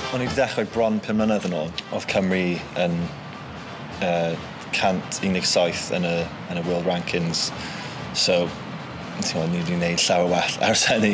O'n i 'di dechrau bron pum mlynedd yn ôl. Oedd Cymru yn uh, 117 yn y, yn y World Rankings. So, ti'n gwybod, ni wedi gwneud llawer well ers hynny.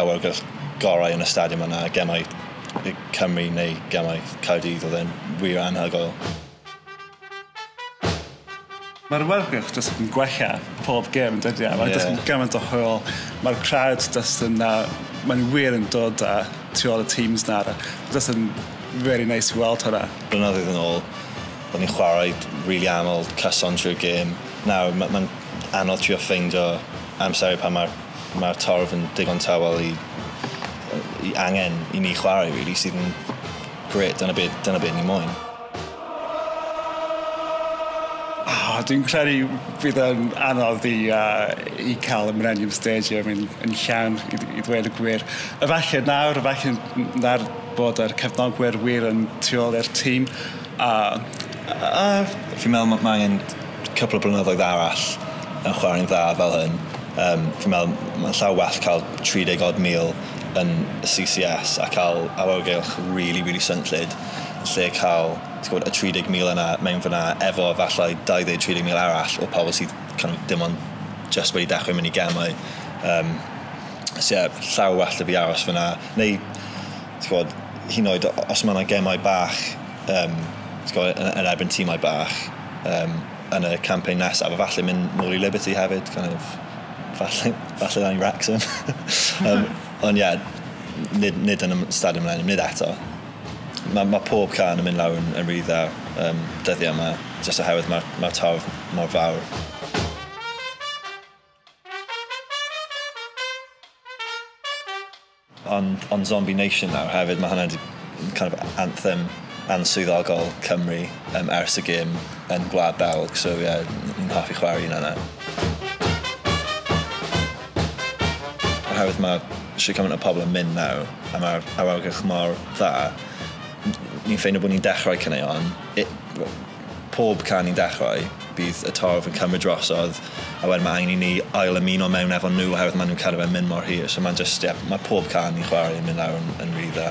awyrgylch gorau yn y stadiwm yna, gemau Cymru neu gemau Caerdydd, oedd e'n wir anhygoel. Mae'r awyrgylch jyst yn gwella pob gêm yn dydi? Ie. Mae jyst yn gymaint o hwyl, mae'r crowd jyst yn yy maen nhw wir yn dod yy tu ôl y teams nawr a jyst yn rili neis i weld hwnna. Blynyddoedd yn ôl o'n i'n chwarae rili aml cyson trwy'r gêm, nawr ma' ma'n anodd trio ffeindio amseru pan mae'r mae'r torf yn digon tawel i yy i angen i ni chwarae rili sydd yn grêt dyna be dyna be ni moyn. O dwi'n credu bydd yn anodd i yy i ca'l y Millennium Stadium yn yn llawn i dd- i ddweud y gwir. Efallai nawr efallai n- nawr bod yr cefnogwyr wir yn tu ôl i'r tîm a yy yy. Fi'n me'wl ma' ma' angen cwpl o blynyddoedd arall yn chwarae'n dda fel hyn. Yym, fi'n meddwl mae'n llawer well cael 30 odd mil yn y CCS a cael awyrgylch rili, rili swnllyd, yn lle cael, ti'n gwybod, y 30 mil yna mewn fan'na efo efallai 20, 30 mil arall o pobl sydd kind of dim ond jyst wedi dechrau mynd i gemau. Yym, so ie, llawer well 'da fi aros fan'na. Neu, ti'n gwybod, hyd yn oed os mae 'na gemau bach um, yn erbyn tîmau bach um, yn y campaign nesaf, a falle mynd nôl i Liberty hefyd, kind of, falle, falle dan i Wrexham. um, ond ie, yeah, nid, nid yn y stad ymlaen, nid eto. Mae ma pob can yn mynd lawr yn, yn rhy dda um, dyddiau yma, jyst oherwydd mae'r ma, ma torf mor fawr. Ond ond Zombie Nation nawr hefyd ma' hwnna 'di kind of anthem answyddogol Cymru yym ers y gêm yn Gwlad Belg so ie ni'n hoffi chware un yna. Oherwydd ma' shwd cymaint o pobol yn mynd nawr a ma'r awyrgylch mor dda n- ni'n ffeindio bo' ni'n dechrau caneuon i- wel Pob can ni'n dechrau, bydd y torf yn cymryd drosodd, a wedyn ma' angen i ni ail ymuno mewn efo nhw oherwydd ma' nhw'n cadw fe'n mynd mor hir, so ma'n jyst ie, ma' pob can ni'n chwarae yn mynd lawr yn yn rili dda.